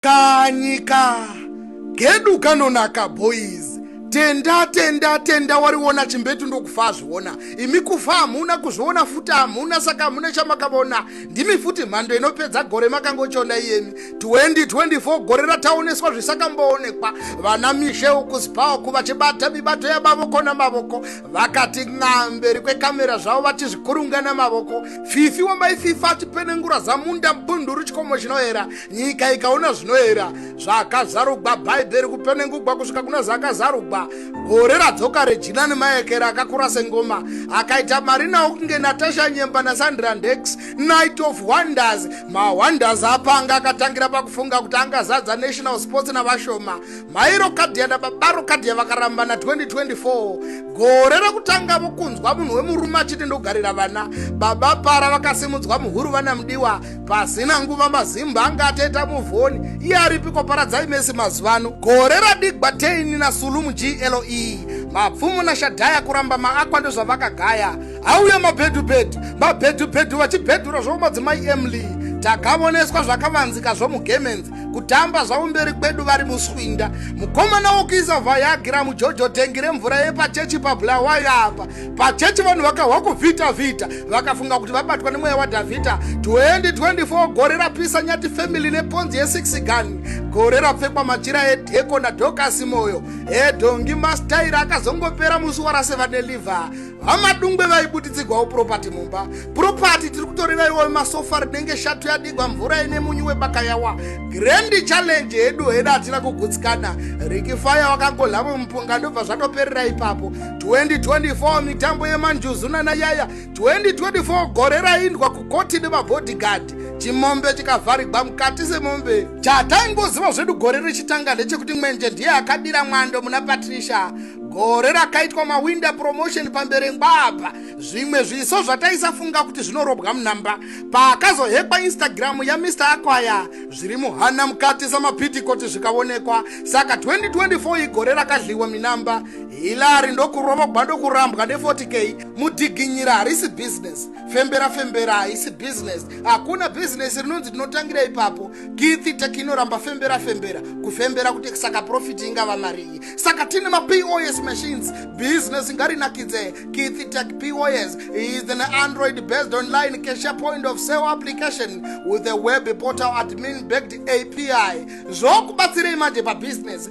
kanyika kedu kanonaka boys tenda tenda tenda wariona chimbetu ndokufa azviona imi kufa hamuna kuzviona futi hamuna saka hamuna chamakavona ndimi futi mhando inopedza gore makangochiona iyemi 2024 gore rataoneswa zvisakamboonekwa vana mishe ukuzipawo kuvachibata mibato yamavoko namavoko vakati n'amberi kwekamera zvavo vachizvikurunga namavoko fifi wamaififa achipenengura zamunda mbunduru chikomo chinoera nyika ikaona zvinoera zvakazarugwa bhaibheri kupenengugwa kusvika kuna zvakazarugwa gore radzoka rejina nemaekera akakura sengoma akaita mari nawo kunge natasha nyemba nasandra ndex night of wonders mawonders apanga akatangira pakufunga kuti angazadza national sports navashoma mairo kadhiya nababaro kadhiya vakaramba na 2024 gore rekutanga vokunzwa munhu wemurume achiti ndogarira vana baba para vakasimudzwa muhuru vana mudiwa pasina nguva mazimba anga atoita muvhoni iye aripiko paradzai mese mazuva ano gore radigwa teini nasulumu gle mapfumo nashadhaya kuramba maakwa ndozvavakagaya auye mabhedhubhedhu mabhedhubhedhu vachibhedhura zvomadzimai emly takavoneswa zvakavanzika zvomugemenzi kutamba zvavo mberi kwedu vari muswinda mukomana wokuisa vhayagira mujojo tengi remvura yepachechi pabulawayo apa pachechi vanhu vakahwa kuvhita vhita vakafunga kuti vabatwa nemweya wadhavhidha 2024 gore rapisa nyati family neponzi ye6 gun gore rapfekwa machira edheko nadhokasi moyo edhongi mastaira akazongopera musi warase vane liver vamadungwe vaibuditsigwawo propati mumba propati tiri kutorevaiwo masofa rinenge shatu yadigwa mvura ine munyu webakayawa grendi challenge hedu heda hatina kugutsikana rikifaya wakangohlamo mupunga ndobva zvatoperera ipapo 2024 mitambo yemanjuzu nanayaya 2024 gore raindwa kukoti nemabhodhigard chimombe chikavharigwa mukati semombe chataingoziva zvedu gore richitanga ndechekuti mwenje ndiye akabira mwando muna patricia gore rakaitwa mawinda promotion pamberi ngwabva zvimwe zviso zvataisafunga kuti zvinorobwa munhamba paakazohekwa instagram yamr akwaya zviri muhana mukati samapitikoti zvikaonekwa saka 2024 igore rakadliwa minamba hilary ndokurovogwa ndokurambwa ne40k mudhiginyira harisi business fembera fembera haisi business hakuna business rinonzi ndinotangira ipapo githi tek inoramba fembera fembera kufembera kuti saka profiti ingava marii saka tine mapos machines business ingarinakidze githi tek pos is an android based online cashier point of sale application with a web portal admin backed api zvokubatsirei manje pabusiness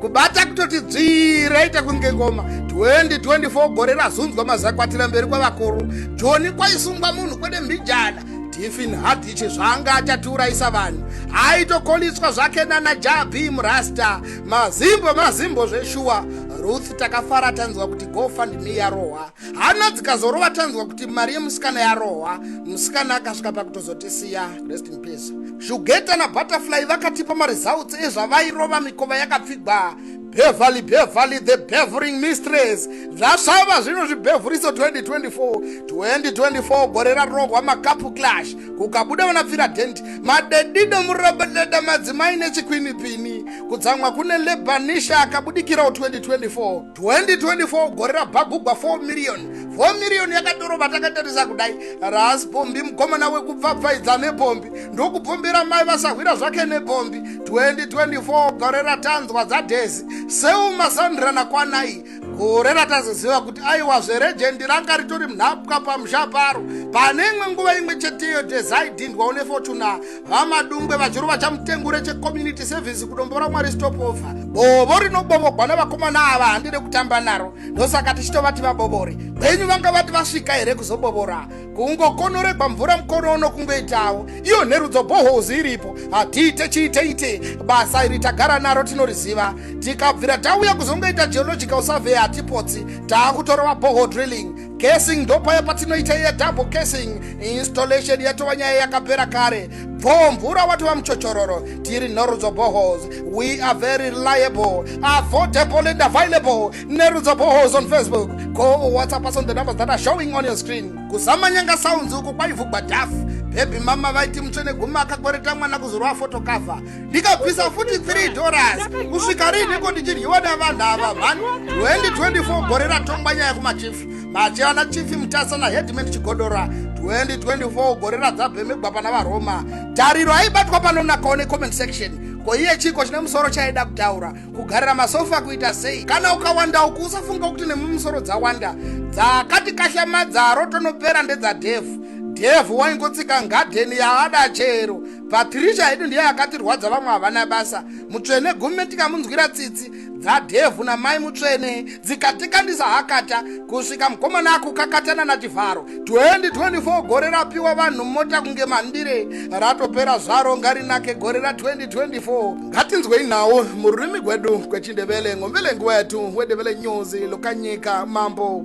kubata kutoti dzvii raita kunge ngoma 2024 gore razunzwa mazakwatira mberi kwavakuru joni kwaisungwa munhu kwede mbijana tifin hadiche zvaanga achatiurayisa vanhu aitokoliswa zvake nana jabi murasta mazimbo mazimbo zveshuwa ruth takafara tanzwa kuti gofundme yarohwa hana dzikazorova tanzwa kuti mari yemusikana yarohwa musikana akasvika pakutozotisiya rest in peace shugeta nabutterfly vakatipa maresults ezvavairova mikova yakapfigwa beverly beverly the bevering mistress zvasvava zvino zvibevuriso 2024 2024 gore rarohwa makapu clash kukabuda vanapfira dent madedido murobodeda madzimai nechikwinipini kutsamwa kune lebanisha akabudikirawo 2024 2024 gore rabhagugwa 4 million 4 million yakatorova takatarisa kudai ras pombi mukomana wekupfapfaidza nepombi ndokupombera mai vasahwira zvake nepombi 2024 gore ratanzwa dzadhezi seuma sandra nakwanai gore ratazoziva kuti aiwa zverejendi ranga ritori mnhapwa pamusha paro pane imwe nguva imwe cheteyo dhezaidhindwa une fortuna vamadungwe vachirova chamutengure checommunity service kudombora mwari stopover bovo rinobovogwa nevakomana ava handide kutamba naro ndosaka tichitovati vabobore kwenyu vanga vati vasvika here kuzobovora kungokonoregwa mvura mukono uno kungoitawo iyo nherudzo bohozi iripo hatiite chiiteite basa iri tagara naro tinoriziva tikabvira tauya kuzongoita geological survey hatipotsi taakutorova boho drilling casing ndopaya patinoita iya double casing installation yatova nyaya yakapera kare bho mvura watova muchochororo tiri norudzo bohos we are very reliable affordable and available nerudzo bohos on facebook go whatsapp us on the numbers that are showing on your screen kuzama nyanga sounds uku kwaivugwa dafu bhebhi mama vaiti mutsve neguma akakwereta mwana kuzorwa fotokavha ndikabvisa futi 3 dollars kusvika riiniko ndichidyiwa nevanhu ava mhani 2024 gore ratongwa nyaya kumachifi machivana chifi mutasa nahedman chigodora 2024 gore radzabhemegwa pana varoma tariro aibatwa panonakawo necomment section ko iye chiko chine musoro chaida kutaura kugarira masofa kuita sei kana ukawanda uku usafunga kuti nemumusoro dzawanda dzakati kahlamadza rotonopera ndedzadhevhu dhevhu waingotsika ngadheni yaada chero patricia hedu ndiye akatirwadza vamwe havana basa mutsvene gume tikamunzwira tsitsi dzadhevhu namai mutsvene dzikatikandisa hakata kusvika mukomana akukakatana nachivharo 2024 gore rapiwa vanhu mota kunge mandire ratopera zvaro ngarinake gore ra 2024 ngatinzwei nhau mururimi gwedu kwechindevele ngomvele nguva yetu wedevele nyuzi lokanyika mambo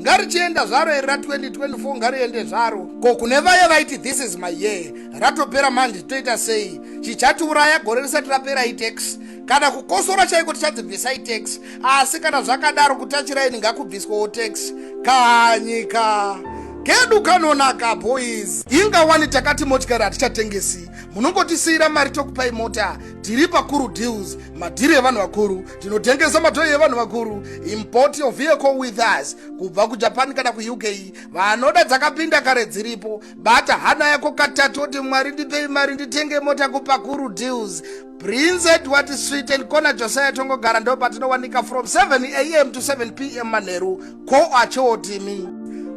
ngarichienda zvaro iri ra 2024 ngariende zvaro ko kune vaye vaiti this is my year ratopera manje toita sei chichatiuraya gore risati rapera itex kana kukosora chaiko tichadzibvisa itex asi kana zvakadaro kutachiraini ngakubviswawo tex kanyika kedu kanonaka boys inga wani takati motikari hatichatengesi munongotisiyira mari tokupai mota tiri pakuru deals madhiri evanhu vakuru tinotengesa matoyi evanhu vakuru import your vehicle with us kubva kujapan kana kuuk vanoda dzakapinda kare dziripo bata hana yako katatu oti mwari ndipei mari nditenge mota kupakuru deals prince edward street and kona josiah tongogara ndo patinowanika from 7 am to 7 p m manheru ko achootimi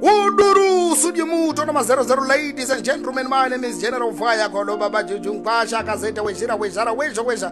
uduru sudye muto na mazero zero ladies and gentlemen my name is general fire kolo baba jujunkwasha akazeta wezhira wezhara wezho wezha